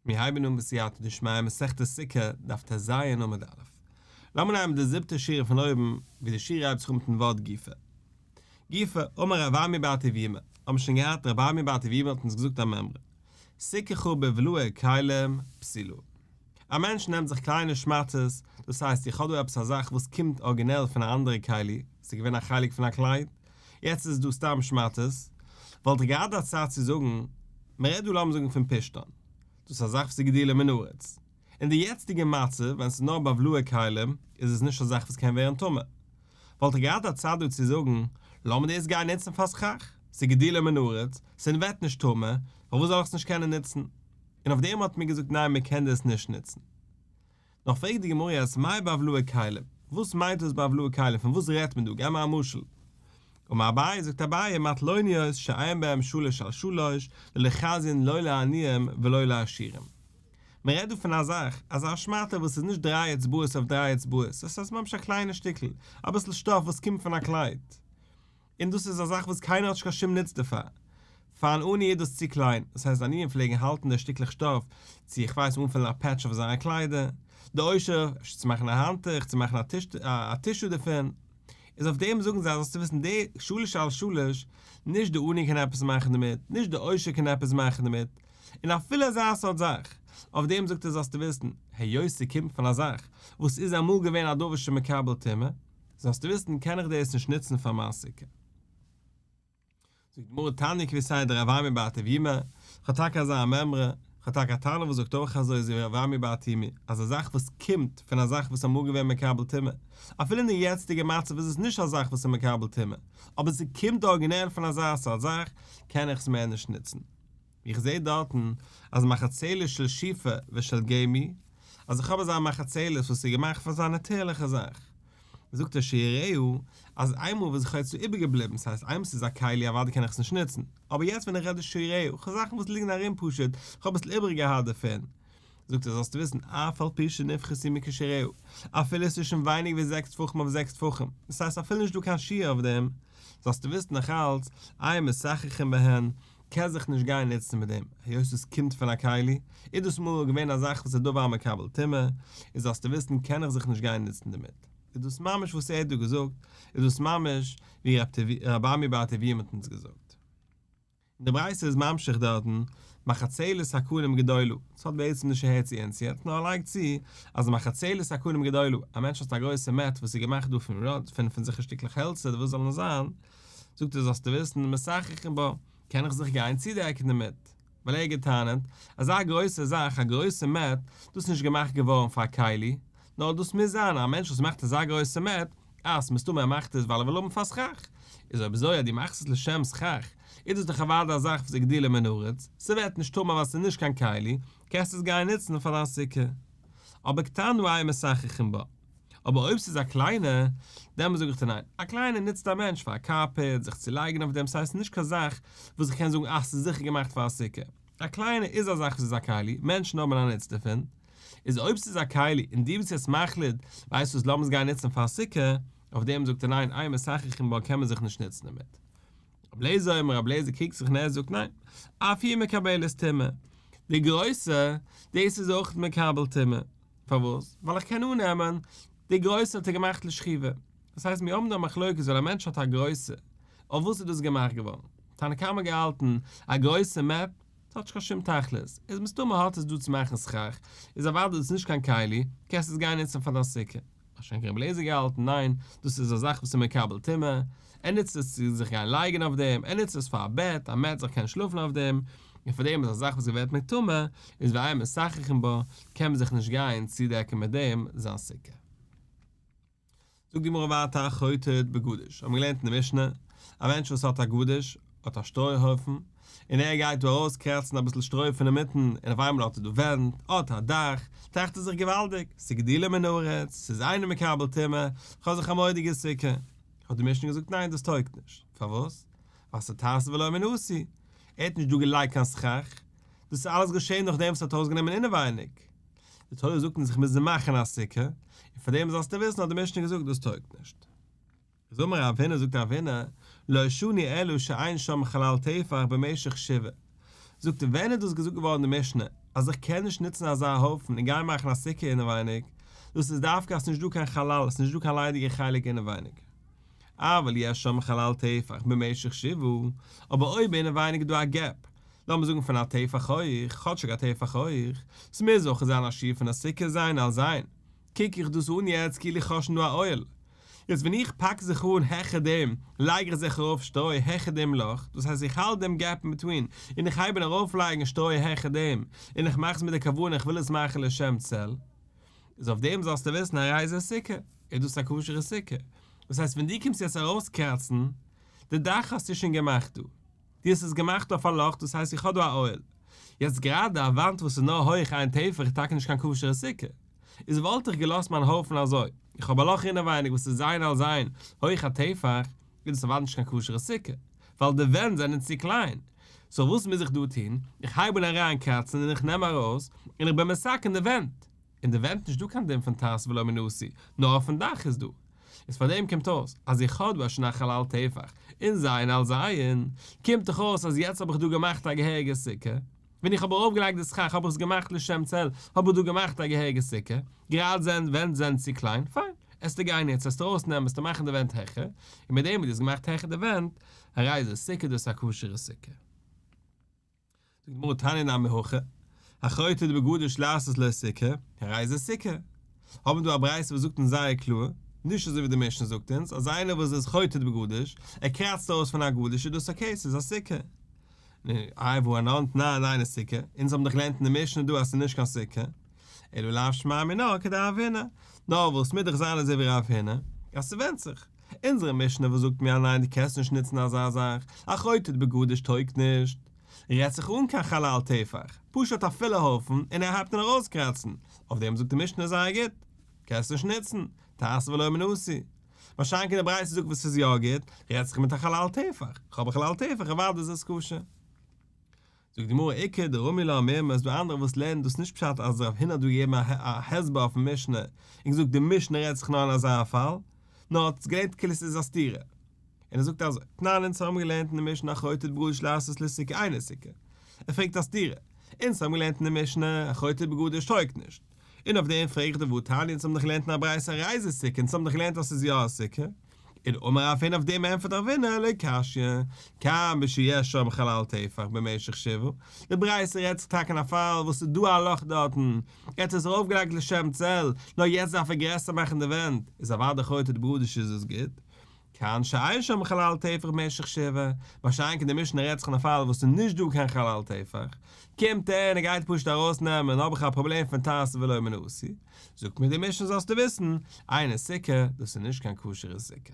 מיר הייבן אן בסייעתא דשמיא מסכת סוכה דף טז סי' עמוד א'. לאמיר נעמען די זיבטע שורה פון אויבן ווי די שורה הייבט זיך אן מיטן ווארט גופא. גופא, אמר רב ארמי בר טוביה מיר האבן שוין געהאט רב ארמי בר טוביה מיר האט אונז געזאגט א מימרא, סוכה חרבה ולוה כלים פסילו. א מענטש נעמט זיך קליינע שמאטעס, דאס הייסט איך האב דא עפעס א זאך וואס קומט ארגינעל פון א אנדערע כלי, ס'איז געווען א חלק פון א קלייד, יעצט איז עס דא סתם שמאטעס, וואלט איך געהאט א צייט צו זאגן, מ'רעדט דא לאמיר זאגן פון פשתן, דאס איז א זאך וואס איז גדול מן הארץ, אין די יעצטיגע מצב ווען ס'איז נאר בבלו'ע כלים איז עס נישט א זאך וואס קען ווערן טמא, וואלט איך געהאט א צייט דא צו זאגן, לאמיר דאס גיין נוצן פאר סכך, ס'איז גדול מן הארץ, ס'ווערט נישט טמא, פארוואס זאל איך עס נישט קענען נוצן? און אויף דעם האט מען געזאגט ניין מען קען דאס נישט נוצן. נאך פרעגט די גמרא אז מאי בעוולהי כלים, וואס מיינט דאס בעוולהי כלים, פון וואס רעדט מען דא, געב מיר א משל. אמר אביי, זאגט אביי, מטלוניות שאין בהם שלש על שלש, לא לחזין לא לעניים ולא לעשירים. מען רעדט דא פון א זאך, אזא שמאטע וואס איז נישט דריי אצבעות אויף דריי אצבעות, דאס הייסט ממש א קליינע שטיקל, אביסל שטאף וואס קומט פון א קלייד, און דאס איז א זאך וואס קיינער האט נישט קיין שום נוץ דערפאר. פאר אן עני איז דאס צו קליין, דאס הייסט די עניים פלעגן האלטן די שטיקלעך שטאף צו איך ווייס אנפילן א פעטש אויף זייערע קליידער, די עושר, אפשר צו מאכן א האנטוך, צו מאכן א טישו דערפון, איז אויף דעם זאגן זיי זאלסטו וויסן די שלש על שלש, נישט די עני קען עפעס מאכן דערמיט, נישט די עושר קען עפעס מאכן דערמיט, און אפילו אזא סארט זאך, אויף דעם זאגט ער זאלסטו וויסן, היות ס'קומט פון א זאך וואס איז אמאל געווען א דבר שמקבל טומאה, זאלסטו וויסן קען איך דאס נישט נוצן פאר מיין סוכה. זאגט די גמרא תניא כפי סייעתא דרב אברמי בר טבימא, איך האב טאקע אזא מימרא, איך האב טאקע א תנא וואס זאגט אויך אזוי אזוי ווי רב אברמי בר טומיא, אז א זאך וואס קומט פון א זאך וואס איז אמאל געווען מקבל טומאה, אפילו אין די יעצטיגע מצב איז עס נישט א זאך וואס איז מקבל טומאה, אבער ס'קומט ארגינעל פון אזא סארט זאך, קען איך עס מער נישט נוצן. איך זעה דארטן אז מחצלת של שיפע ושל געמי, אז איך האב אזא מחצלת וואס איז געמאכט פאר אזא נאטורליכע זאך. זאגט ער שיראהו אז איינמאל וואס איך האב עס צו איבערגעבליבן, ס'הייסט איינמאל ס'איז א כלי אוודאי קען איך עס נישט נוצן, אבער יעצט ווען איך רעד איז שיראהו, כ'האב זאכן וואס ליגן ארום פשוט, כ'האב אביסל איבעריגעהאט דערפון, זאגט ער זאלסטו וויסן אף על פי שנפחת היא מקושרהו, אפילו עס איז שוין ווייניג ווי זעקס טפחים אויף זעקס טפחים, דאס הייסט אפילו נישט דא קיין שיעור אויף דעם, זאלסטו וויסן נאך אלץ, איי משחחין בהן, קען זיך נישט גיין נוצן מיט דעם, היות עס קומט פון א כלי, איז דאס מאל געווען א זאך וואס איז דבר מקבל טומאה, איז זאלסטו וויסן קען איך זיך נישט גיין נוצן דערמיט. איז דאס ממש וואס ער האט דא געזאגט, איז דאס ממש ווי רבי ארבעמי בעל טובי' האט אונז געזאגט. און די ברייתא איז ממשיך דארטן, מחצלת הכלים גדולה, דאס האט בעצם נישט אהער צו אונז יעצט, נאר ער לייגט צו אז מחצלת הכלים גדולה, א מענטש האט א גרויסע מעט וואס איז געמאכט דא פון ראד, פון פון זיך א שטיקלעך העלצער, וואס זאל נאר זיין, זאגט ער זאלסטו וויסן, משחחין בה, קען איך זיך גיין צודעקן דערמיט, ווייל ער האט גע'טענה'ט, אזא גרויסע זאך, א גרויסע מעט, דאס איז נישט געמאכט געווארן פאר א כלי, נאר דאס מוז זיין א מענטש וואס מאכט אזא גרויסע מעט אז מסתמא ער מאכט עס ווייל ער וויל האבן פאר שכח, איז אויב אזוי אז דו מאכסט עס לשם שכח, איז דאס דאך אוודאי א זאך וואס איז גדילה מן הארץ, ס'ווערט נישט טמא ווייל ס'איז נישט קיין כלי, קענסט עס גיין נוצן פאר דיין סוכה. אבער קטן הוא היה משחחין בה. אבער אויב ס'איז א קליינע, דעמאלס זאג איך דיר ניין, א קליינע נוצט א מענטש פאר א קארפעט, זיך צו לייגן אויף דעם, ס'הייסט נישט קיין זאך וואס איך קען זאגן אז ס'איז זיכער געמאכט פאר א סוכה. א קליינע איז א זאך וואס איז א כלי, מענטשן האבן א נוץ דערפון. איז אויב ס'איז א כלי און דו ביסט יעצט מחליט, ווייסט וואס לאמיר עס גיין נוצן פאר סוכה, אויף דעם זאגט ער ניין איי מסכך אין בה קען מען זיך נישט נוצן דערמיט. רבי לעזער און רבי לעזער קוקט זיך און ער זאגט ניין אויף איר מקבלת טומאה, די גרויסע, דאס איז אויך מקבל טומאה, פארוואס? ווייל איך קען אננעמען די גרויסע האט ער געמאכט לשכיבה, דאס הייסט מיר האבן דא א מחלוקת ווייל א מענטש האט א גרויסע, אויף וואס איז דאס געמאכט געווארן? תנא קמא האט געהאלטן א גרויסע מעפ. ס'האט נישט קיין שום תכלית. איז מסתמא האט עס דא צו מאכן סכך, איז אוודאי דאס נישט קיין כלי, קענסט עס גיין נוצן פאר דיין סוכה. א שאנק רבי אליעזר געהאלטן, ניין, דאס איז א זאך וואס איז מקבל טומאה, ער נוצט עס צו זיך גיין לייגן אויף דעם, ער נוצט עס פאר א בעט, אז מען עט זיך קענען שלאפן אויף דעם, און פאר דעם איז א זאך וואס געווערט מטומא, איז ואין מסככין בה, קען מען זיך נישט גיין צודעקן מיט דעם זיין סוכה. זאגט די גמרא ווייטער חוטאת בגדש, האט מען געלערנט אין די משנה, א מענטש וואס האט א גדש, האט א שטרוי הויפן, און ער גייט דא ארויס קרעצן אביסל שטרוי פון אינמיטן, און אויף איינמאל האט ער דא ווענט, האט א דאך, טראכט ער זיך געוואלדיג, ס'איז גדילה מן הארץ, ס'איז אינו מקבל טומאה, כ'האב זיך א מורא'דיגע סוכה. האט די משנה געזאגט ניין דאס טויגט נישט, פארוואס? ווייל ס'טייס ולא מן עשי, ער האט נישט דא געלייגט קיין סכך, דאס איז אלעס געשען נאכדעם וואס ער האט ארויסגענומען אינעווייניג, די תורה זאגט אונז איך מוז מאכן א סוכה, און פאר דעם זאלסטו וויסן האט די משנה געזאגט דאס טויגט נישט. זומער אבינו זאגט אבינו, לא שני אלא שאין שם חלל טפח במשך שבעה, זאגט ער ווען איז דאס געזאגט געווארן די משנה אז איך קען נישט נוצן אזא הויפן און גיין מאכן א סוכה אינעווייניג, דאס איז דווקא אז ס'איז נישט דא קיין חלל, ס'איז נישט דא קיין ליידיגע חלק אינעווייניג. אבל יש שם חלל טפח במשך שבעה, אבער אויב אינעווייניג איז דא א געפ, לאמיר זאגן פון א טפח הויך, כאטשיג א טפח הויך, ס'מוז אויך זיין א שיעור פון א סוכה זיין על זיין, קוק איך דאס אן יעצט כאילו איך האב שוין דא א אוהל, יעצט ווען איך פאק זיך אן העכער דעם, לייג איך זיך ארויף שטרוי העכער דעם לאך, דאס הייסט איך האלט דעם געפ אינבעטווין, און איך הייב אן ארויפלייגן שטרוי העכער דעם, און איך מאך עס מיט די כוונה איך וויל עס מאכן לשם צל, איז אויף דעם זאלסטו וויסן א רייזע סוכה איז דאס א כשר'ע סוכה, דאס הייסט ווען דו קומסט יעצט ארויסקראצן די דאך האסטו שוין געמאכט דא, דו האסט עס געמאכט אויף א לאך דאס הייסט איך האב דא א אוהל, יעצט גראדע א וואנט וואס איז נאר הויך איין טפח איז טאקע נישט קיין כשר'ע סוכה, איז וואלט איך געלאזט מיין הויפן אזוי, איך האב א לאך אינעווייניג וואס איז זיין על זיין הויך א טפח, איז דאס אוודאי נישט קיין כשר'ע סוכה, ווייל די ווענט זענען צו קליין. סאו וואס מוז איך דא טון? איך הייב אן אריין קראצן און איך נעם ארויס, און איך בין מסכן די ווענט. אין די ווענט נישט דא קיין דין פון תעש ולא מנוסי, נאר אויפן דאך איז דא. איז פאר דעם קומט אויס אז איך האב דא א שנח'ל אל תהפך, און זיין אל זיין. קומט דאך אויס אז יעצט האב איך דא געמאכט א געהעריגע סוכה. ווען איך האב ארויפגעלייגט די סכך האב איך עס געמאכט לשם צל, האב איך דא געמאכט א געהעריגע סוכה, גראד זענען די ווענט זענען צו קליין, פיין, עסטו גיין יעצט עסטו ארויסנעמען עסטו מאכן די ווענט העכער, און מיט דעם וואס דו האסט געמאכט העכער די ווענט, א רייזע סוכה דאס איז א כשר'ע סוכה. זאגט די גמרא תניא נמי הכא, החוטא דבגדוש לעשות לו סוכה, א רייזע סוכה. האבן מיר דא א ברייתא וואס זאגט אונז זייער קלאר, נישט אזוי ווי די משנה זאגט אונז, אז איינער וואס איז חוטא דבגדוש, ער קראצט אויס פון א גדוש איז דאס אקעי, ס'איז א סוכה. נו, איי וואו אן אנט נאר דיינע סוכה? אונז האבן דאך געלערנט אין די משנה דא אז ס'איז נישט קיין סוכה. אלא לאו שמיה מינא כדרב הינא. נאר וואס מוז דאך זיין אזוי ווי רב הינא? אז ס'ווענדט זיך. אונזערע משנה וואס זאגט מיר אז ניין דו קענסט נישט נוצן אזא זאך, א חוטאת בגדש טויגט נישט. רעדט זיך אן קיין חלל טפח. פשוט א פילע הויפן און ער הייבט אן ארויסקראצן. אויף דעם זאגט די משנה זייער גוט. קענסט נישט נוצן. תעשה ולא מנעשי. מה שאין כן די ברייתא זאגט וואס איז יא גוט, רעדט זיך מיט א חלל טפח, כ'האב א חלל טפח אוודאי איז עס כשר. זאגט די גמרא איכא דרמי לא אמר מ אז דא אנדערע וואס לערנען דאס נישט פשט אז רב הונא האט דא געגעבן א הסבר אויפן משנה און געזאגט די משנה רעדט זיך נאר אין אזא פאל, נאר האט עס געלערנט כאילו ס'איז א סתירה. און ער זאגט אזוי, תנן אונז האבן געלערנט אין די משנה אחרותית בגדש לעשות לסוכה אינו סוכה. ער פרעגט א סתירה. אונז האבן געלערנט אין די משנה אחרותית בגדש טויגט נישט. און אויף דעם פרעג איך די וואו תניא אונז האבן דאך געלערנט אין א ברייתא א רייזע סוכה אונז האבן דאך געלערנט אז ס'איז יא א סוכה און אמר רב הן אויף דעם ענפערט רב הנה לא קשיא כאן בשו י שם חלל טפח במשך שבעה די ברייתא רעדט זיך טאקע אין א פאל וואס ס'איז דא א לאך דארטן ער האט עס ארויף געלייגט לשם צל נאר יעצט דארף ער גרעסער מאכן די ווענט איז אוודאי חוטא דברודישע איז עס גוט כיון שאין שם חלל טפח במשך שבעה, מה שאין כן די משנה רעדט זיך אין א פאל וואס ס'איז נישט דא קיין חלל טפח, קומט ער און ער גייט פשוט ארויס נעמען, האב איך א פראבלעם פון תעשה ולא מנעשי, זאגט מיר די משנה זאלסטו וויסן, איינער סוכה, דאס איז נישט קיין כשר'ע סוכה.